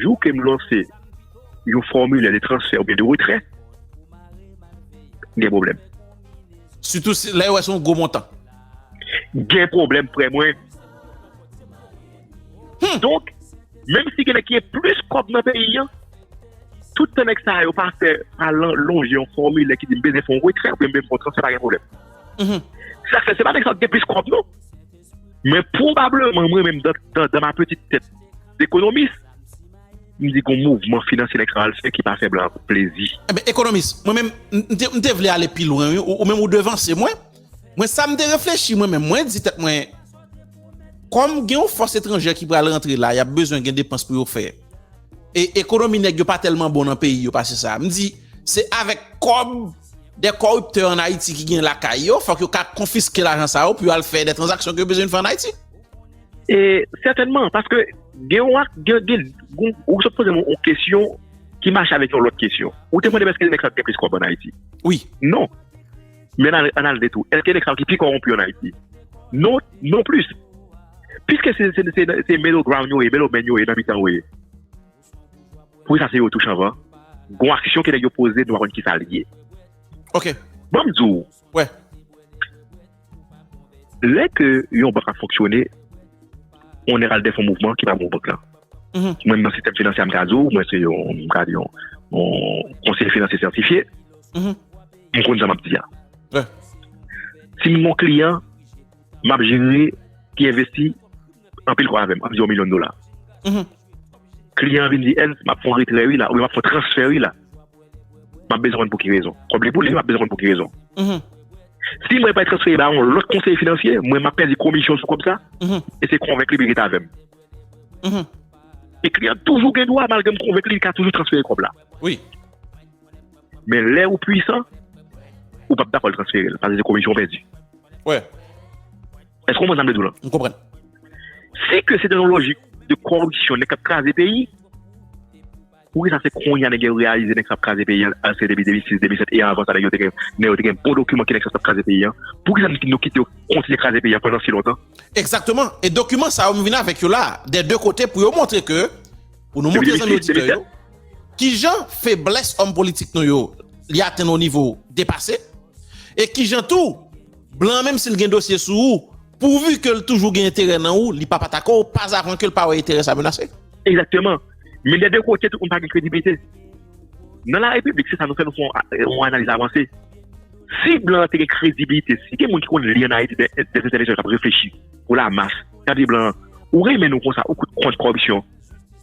Jou ke m lanse yon fòmilè de transfè oubyen de retrè, gen pwoblèm. Sitou lè yo wè se yon gwo montan. gen pwoblèm frè mwen. Donk, menm si gen nèg ki gen plis kòb nan peyi an, tout tan nèg sa yo pa fè, pa lonje yon fòmilè ki di m bezwen fè yon retrè oubyen m bezwen fè yon transfè pa gen pwoblèm. Sa k fè, se pa nèg sa yo ki gen plis kòb non. Men pwobableman mwen menm dan ma petite tèt dekonomis, m di gon mouvman finansye nèg sa yo al fè ki pa fè blan plezi. Enben ekonomis, mwen menm m te vle ale pi lwen wi, ou menm ou devanse mwen. Mwen sa m te reflechi mwen menm, mwen di tèt mwen, kòm gen yon fòs etranjè ki pral rantre la, y ap bezwen gen depans pou yo fè. E ekonomi nèg yo pa tèlman bon nan peyi yo pase sa. M di, se avèk kòb dè kòriptè an Ayiti ki gen lakay yo, fòk yo ka konfiske lajan sa yo pou yo al fè dè tranzaksyon ke yo bezwen fè an Ayiti. E sètènman, paske gen yon ak, gen, gen, ou sot poze m yon kesyon ki mache avèk yon lòt kesyon. Ou te mande m èske nèg sa yo te gen plis kòb an Ayiti? Wi. Non. Men ann al di tou, èske nèg sa yo ki pi kowonpi yo ann Ayiti? Non, non plis. Piske se middle ground yo ye, middle men yo ye, nan mitan yo ye. Pou sa se yo tou chanvan. Gon aksyon ke nèg yo poze nou pa konn ki sa li ye. Ok. Banm di w. Wè. Lè ke yon bank ap fonksyone, yon nèg al dèfè yon mouvman ki pa bon pou bank la. Mwen nan sistèm finansye a m ka di w, mwen se yon, m ka di yon, yon konseye finansye sètifye. M konn sa map di a. Sim gon kliyan map jere ki envesti anpil kòb avèm, ann di yon milyon dola. Kliyan an vin di Ernst map fè yon retrè wi la oubyen map fè yon transfè wi la. Map bezwen konn pou ki rezon. Kòb li pou li map bezwen konn pou ki rezon. Si mwen bay transfè ba yon lòt konseye finansye, mwen map pèdi komisyon sou kòb sa e se konvenk li pou li rete avèm. E kliyan an toujou gen dwa malgre m konvenk li li ka toujou transfere kòb la. Men lè ou pwisan, ou pap dakò l transfere l, paske se komisyon ou pèdi. Wè. Èske ou konprann sa m vle di w lan? M konprann. Si ke se te yon lojik de koripsyon nèg k ap kraze peyi, poukisa se kounye a nèg yo reyalize nèg sa ap kraze peyi an, alòs ke depi 2006, 2007 e anvan sa nèg yo te gen, nèg yo te gen bon dokiman ki nèg sa t ap kraze peyi an? Poukisa nou kite yo kontinye kraze peyi an pandan si lontan? Egzakteman. E dokiman sa yo m vin avèk yo la a, dè de kote pou yo montre ke. Pou nou montre zanmi oditè yo, ki jan feblès òm politik nou yo, li atenn yon nivo depase, e ki jan tou, blan an menm si l gen dosye sou ou, pouvi ke l toujou gen enterè nan ou, li pa pa tako ou, pa zavan ke l pa wè enterè sa menase. Egzakteman. Men dè de kote tout moun pa gen krediblite. Nan la repiblik, se sa nou fè, nou fè yon analiz avanse. Si blan an te gen krediblite, si gen moun ki konn li an Ayiti dè entèlektyèl k ap reflechi pou la mas, k ap di blan an, ou renmen nou konsa, ou kont kòripsyon,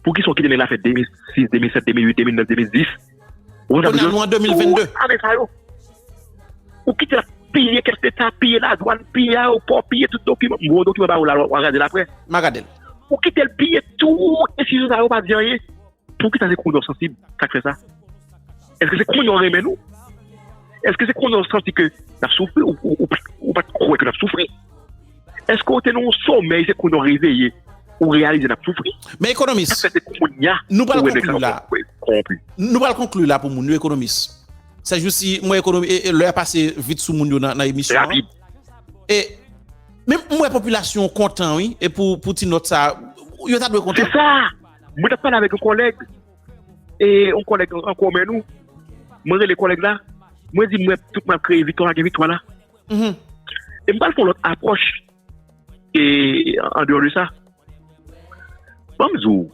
Poukisa w kite nèg la fè 2006, 2007, 2008, 2009, 2010? Kounye a nou an 2022. Tout ane sa yo. Ou kite l ap piye kès leta, piye ladwann, piye ayewopò, piye tout dokiman. M voye dokiman ba ou la w al gade l aprè. M a gade l. Ou kite l piye tout enstitisyon sa yo pa di anyen. Poukisa se kounye w sansib sa k fè sa? Èske se kounye w renmen nou? Èske se kounye w santi ke n ap soufri? Ou pa t kwè ke n ap soufri? Eske ou te nan yon somèy se kounye w reveye ou reyalize n ap soufri? Men ekonomis, nou pral konkli la, nou pral konkli la pou moun yo ekonomis. Sèjousi m wè ekonomi e lè a pase vit sou moun yo nan emisyon an. E men m wè popilasyon kontan wi e pou ti nòt sa yo ta dwe kontan. Se sa! Mwen t ap pale avèk yon kòlèg e yon kòlèg an komen nou. Mwen rele kòlèg la, mwen di m wè tout moun ap kreye vitwa lage vitwa la. Mhm. E m pral fon lòt apwòch e an deyò de sa. Ban m di w,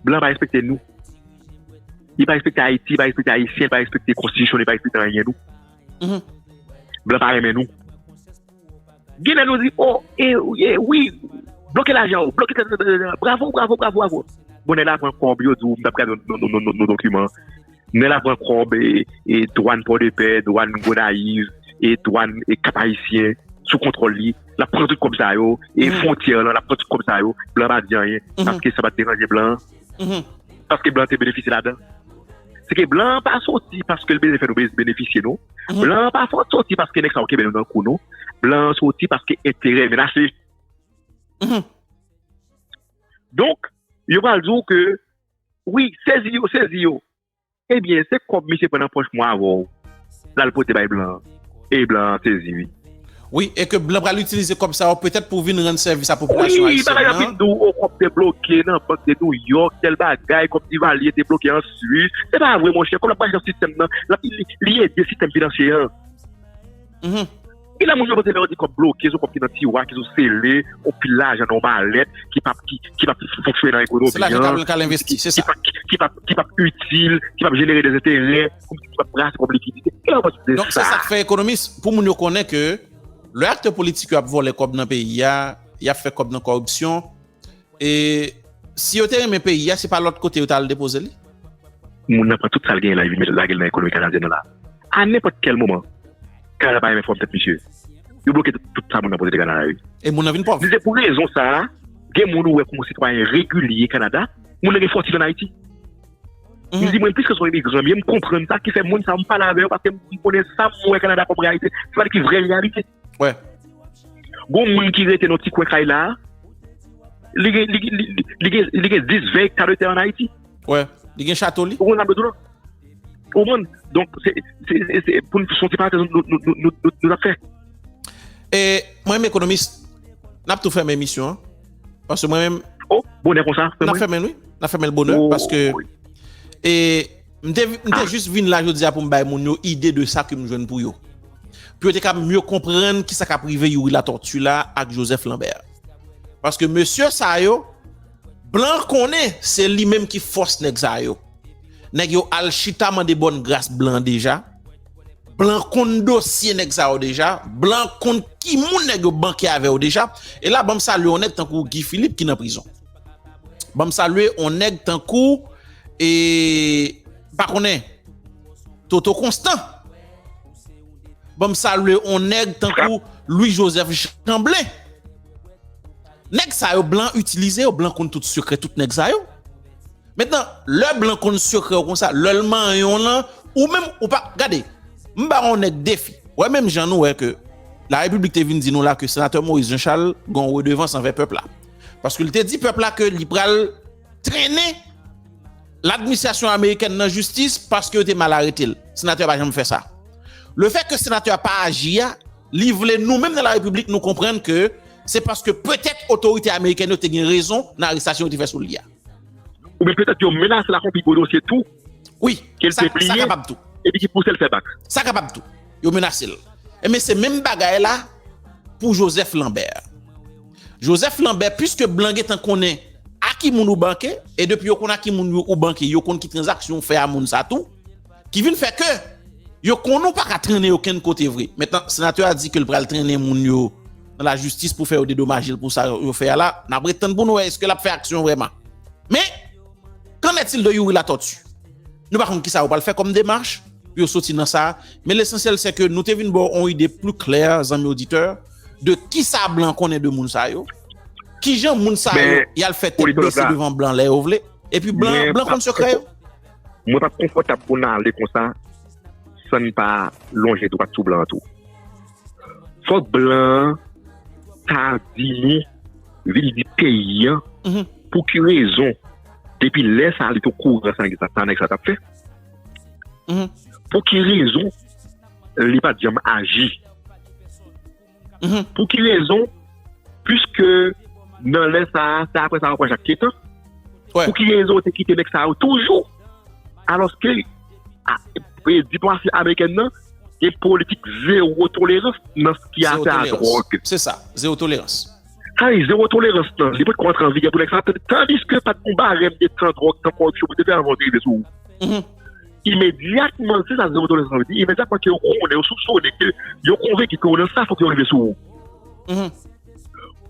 blan pa respekte nou. Li pa respekte Ayiti, li pa respekte Ayisyen, li pa respekte konstitisyon, li pa respekte anyen nou. Mhm. Blan pa renmen nou. Gen lè nou di, o, oh, e, e, wi, bloke lajan ou, bloke tètètètètè, bravo, bravo, bravo, bravo. Bonè la pran kòb yo di w m tap gade nou dokiman. Nèl ap pran kòb e dwàn pòdepè, dwàn gonayiv e dwàn kap ayisyen sou kontwòl li lap pran tout kòb sa yo e fwontyè lan lap pran tout kòb sa yo blan pa di anyen paske sa pat deranje blan paske blan te benefisye ladan se ke blan pa soti paske l bezwen fè nou benefisye non blan pa soti paske nèg sa yo kenbe nou nan kou non blan soti paske enterè yo menase donk yo pral di w ke Wi sezi yo sezi yo. Ebyen se kob misye pran nan poch mwen avèw lal pote bay blan an e blan an sezi wi. Wi e ke blan pral itilize kob sa yo petèt pou vin rann sèvis a popilasyon ayisyèn nan. Wi bagay yo fin di w o kob te bloke nan bank de nouyok tèl bagay kob divalye te bloke an swis se pa vre monchè kob la pa janm sistèm nan li ede sistèm finansye an. Ki lè moun yo pote lè yo di kòb bloke sou kòb ki nan tiwa ki sou sele yon pil lajan nan yon malèt ki pap fonksyone nan ekonomi an se lajan kablan kal envesti se sa ki pap itil ki pap jenere de zeterè ki pap brase kòb likidite ki lè yo pase de sa donk se sak fè ekonomis pou moun yo konnen ke lè aktè politik yo ap vòlè kòb nan peyi a yap fè kòb nan kòripsyon E si yo te renmen peyi a, se pa lòt kote yo ta al depoze li? Moun nan pran tout sa l genyen la epi l lage l nan ekonomi kanadyèn nan la. A nenpòt kèl moman, Kanada pa renmen fòm tèt misye. Yo bloke tout sa moun nan pote te Kanada yo. E moun nan vin pòv. Se pou rezon sa a, gen moun ou wè kòm sitwayen regilye Kanada, moun nan gen fòtin ann Ayiti. M di mwen piske s on imigran m ye, m konprann sa ki fè moun sa yo m pale avè yo paske m konnen sa m wè Kanada kòm reyalite. Se pa li ki vrè reyalite. Wè. Gon moun ki rete nan ti kwen kay la, li gen, li gen, li gen, li gen 10, 20 ekta de tè an Ayiti. Wè. Li gen chato li. Ou konprann sa m vle di w la? Ou konprann? Donk, se, se, se, se pou n, son ti parantèz nou, nou, nou, nou, nou t ap fè. E, mwen menm ekonomis, n ap tou fèmen emisyon an. Paske mwen menm. O, bonè konsa, fèmen. N ap fèmen l wi. N ap fèmen l bonè paske. O, wi. E. M te m te jis vin la jodi a pou m bay moun yo ide de sa ke m jwenn pou yo. Pou yo te ka mye konprann ki sa k ap rive Youri Latortue la ak Joseph Lambert. Paske mesye sa yo, blan konnen se li menm ki fòs nèg sa yo. Nèg yo al chita mande bòn gras blan deja. Blan konn dosye nèg sa yo deja. Blan konn ki moun nèg yo banke avè yo deja. E la banm salye yon nèg tankou Guy Philippe ki nan prizon. Banm salye on nèg tankou e pa konnen Toto Constant. Banm salye on nèg tankou Louis Joseph Chamblin. Nèg sa yo blan itilize yo, blan konn tout sekrè tout nèg sa yo. Metnan, lè blan konn sekrè ou konsa, lè l manyen w lan, ou menm ou pa, gade, m ba on nèg defi, wè menm jan nou wè ke la repiblik te vin di nou la ke senatè Moïse Jean Charles gon redevans anvè pèp la. Paske li te di pèp la ke li pral trennen ladministrasyon amerikèn nan jistis paske yo te mal arete l. Senatè a pa janm fè sa. Le fè ke senatè a pa aji a, li vle nou menm nan la repiblik nou konprann ke se paske petèt otorite amerikèn yo te gen rezon nan arestasyon yo te fè sou li a. Oubyen petèt yo menase l ak yon pi gwo dosye tou. Wi, sa kapab tou. Epi ki pousel fè bak. Sa kapab tou. Yo menasel. Enben se menm bagay la pou Joseph Lambert. Joseph Lambert puiske blan gentan konnen a ki moun ou banke e depi yo konn a ki moun yo ou banke yo konn ki tranzaksyon ou fè a moun sa tou ki vin fè ke yo konn ou pa ka trennen yo kenn kote vre. Mentnan senatè a di ke l pral trennen moun yo nan lajistis pou fè yo dedomaje l pou sa yo fè a la. N ap ret tann pou nou wè eske l ap fè aksyon vreman. Men! Qu'en est-il de Youri Latortue? Nou pa konn kisa yo pral fè kòm demach pou yo soti nan sa, men l'essentiel c'est que nou te vin ba w on ide plus claire, zanmi oditè, de kisa blan konnen de moun sa yo, kijan moun sa yo y'al fè tèt bese devan blan lè yo vle, epi blan konn sekrè yo. Mwen pap konfòtab pou n'ale konsa san n pa lonje dwat sou blan an tou. Fok blan an ta vini vin di peyi an pou ki rezon depi lè sa li te o kouran sa ki sa nèg sa tap fè. Pou ki rezon li pat janm aji. Pou ki rezon pwiske nan lè sa se apre sa yo pran Jakitetan. Pou ki rezon yo te kite nèg sa yo toujou. Alòske diplomasi amerikèn nan gen politik zewo tolerans nan sa ki afè a dwòg. Se sa, zewo tolerans. Sa vle di zewo tolerans nan, li potko antre an vigè pou nèg sa, tandiske pa t gen barèm de tan dwòg, tan koripsyon pou te fè anvan yo te rive sou ou. Imedyatman, se sa zewo tolerans nan vle di, imedyatman ke yo konnen, yo soupsone, ke yo konvenki ke ou nan sa, fòk yo rive sou ou.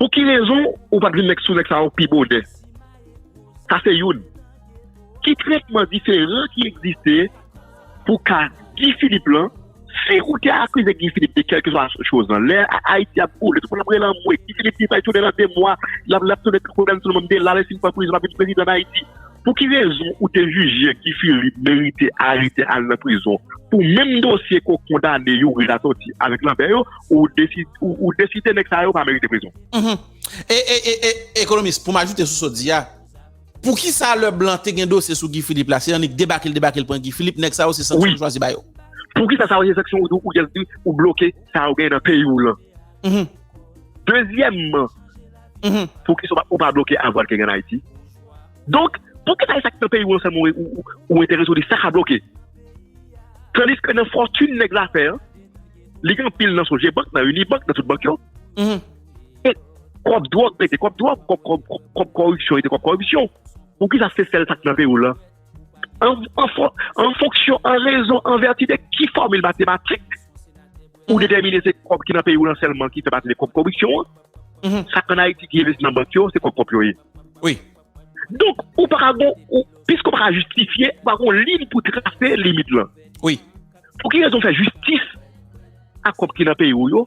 Pou ki rezon ou pa t vin nèg sou nèg sa yo pi bonè? Sa se youn. Ki tretman diferan ki egziste pou ka Guy Philippe lan? Si ou te akize Guy Philippe de kèlkeswa choz lan, lè Ayiti ap boule, tout moun ap rele anmwe, Guy Philippe li pral tounen nan 2 mwa, l ap lap tounen koukou dan sou moun, de la lè si l pran prizon l ap vin prezidan Dayiti. Pou ki rezon ou te jije Guy Philippe merite arete al nan prizon pou menm dosye ke w kondane Youri Latortue avèk Lambert yo, ou deside nèg sa yo pa merite prizon? E e e e ekonomis pou m ajoute sou sa w di a, pou ki sa lè blan te gen dosye sou Guy Philippe la se annik debake l debake l pran Guy Philippe nèg sa yo se sanksyon yo chwazi ba yo. Pou ki sa sa yo se sanksyon ou bloke sa yo gen nan peyi w lan. Dezyèmman pou ki sa ou pa bloke avwal ki gen an Ayiti. Donk pou ki sa e sa ki nan peyi w lan sèlman ou enterese ou di sa ka bloke. Tandis ke nan fòtune nèg zafè an li gen anpil nan sou je bank nan uni bank nan tout bank yo. E kòb dwòg rete kòb dwòg, kòb kòripsyon rete kòb kòripsyon. Pou ki sa se sèl sa ki nan peyi w lan? An fonksyon, an rezon, an vèti de ki fòmil matematik ou detèmine se kòb ki nan peyi w lan sèlman ki fè pati de kòb kòripsyon an? Sa k an Ayiti ki envesti nan bank yo, se kòb kòp yo ye. Wi. Donk, ou pa ka gon, piske ou pa ka jistifye, ou pa gon liy pou trase limit lan. Wi. Pou ki rezon fè jistis ak kòb ki nan peyi w yo?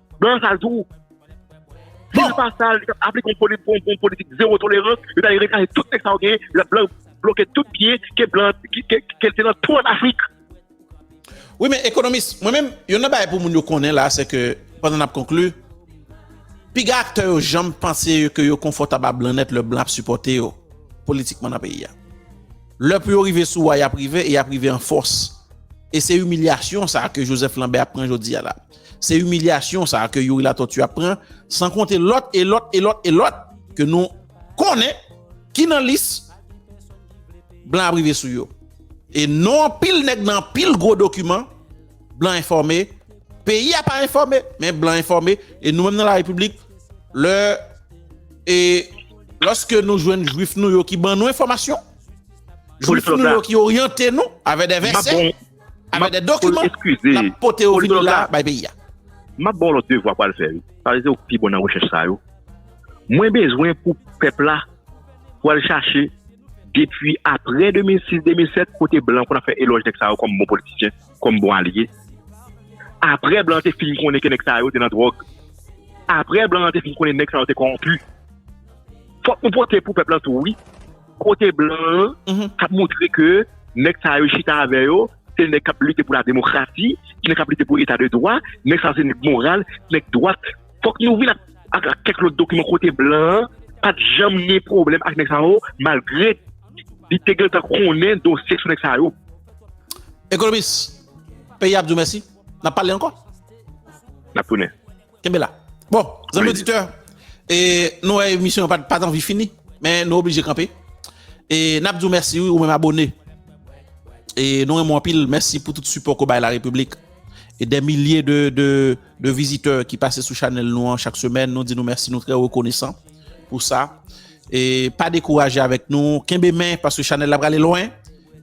Blan an sal tou. Si l pa sal, li t ap aplike yon politik zewo tolerans, yo t ale reklame tout tèks sa yo genyen, lè blan yo bloke tout byen ke blan an, ke l te nan tou an Afrik. Wi men ekonomis, mwen menm, yonn nan bagay pou moun yo konnen la, se ke, pandan n ap konkli, piga aktè yo janm panse ke yo konfòtab a blan nèt lè blan ap sipòte yo politikman nan peyi a. Lè pou yo rive sou wa y ap rive e y ap rive an fòs. E se imilyasyon sa ke Joseph Lambert ap pran jodi a la. Se imilyasyon sa ke Youri Latortue ap pran, san konte lòt e lòt e lòt e lòt ke nou konnen ki nan lis blan ap rive sou yo. E non anpil nèg nan anpil gwo dokiman, blan enfòme, peyi a pa enfòme, men blan enfòme, e nou menm nan la repiblik, lè e lòske nou jwenn jwif nou yo ki ban nou enfòmasyon, jwif nou yo ki oryante nou avè de vèsè. Avè de dokiman nap pote yo vini la bay peyi a. Map baw lot devwa pou al fè wi paske se ou ki pi bon nan rechèch sa yo mwen bezwen pou pèp la pou al chache depi aprè 2006 2007 kote blan konn ap fè elòj nèg sa yo kòm bon politisyen kòm bon alye aprè blan te fin konnen ke nèg sa yo te nan dròg aprè blan te fin konnen nèg sa yo te kòwonpi fòk nou pote pou pèp la tou wi. Kote blan an kap moutre ke nèg sa yo chita avè yo, se nèg kap lite pou la demokrasi, se nèg kap lite pou eta de dwa, nèg sa yo se nèg moral, se nèg dwat. Fòk nou vin ak kèk lòt dokiman kote blan an pat janm gen pwoblèm ak nèg sa yo malgre li te gentan konnen dosye sou nèg sa yo. Ekonomis, peyi a ap di w mèsi. N ap pale ankò. N ap tounen. Kenbe la. Bon, zanmi oditè, e nou wè emisyon pat pat anvi fini, men nou oblije kanpe. E nap di ou mèsi wi ou menm abone. E nou renmen w anpil, mèsi pou tout sipò ke w bay la Repiblik. E dè milye de de de vizitè ki pase sou chanèl nou an chak semèn, nou di nou mèsi, nou trè rekonesan pou sa. E pa dekouraje avèk nou, kenbe men paske chanèl la prale lwen.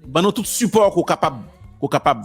Ban nou tout sipò ke w kapab, ke w kapab.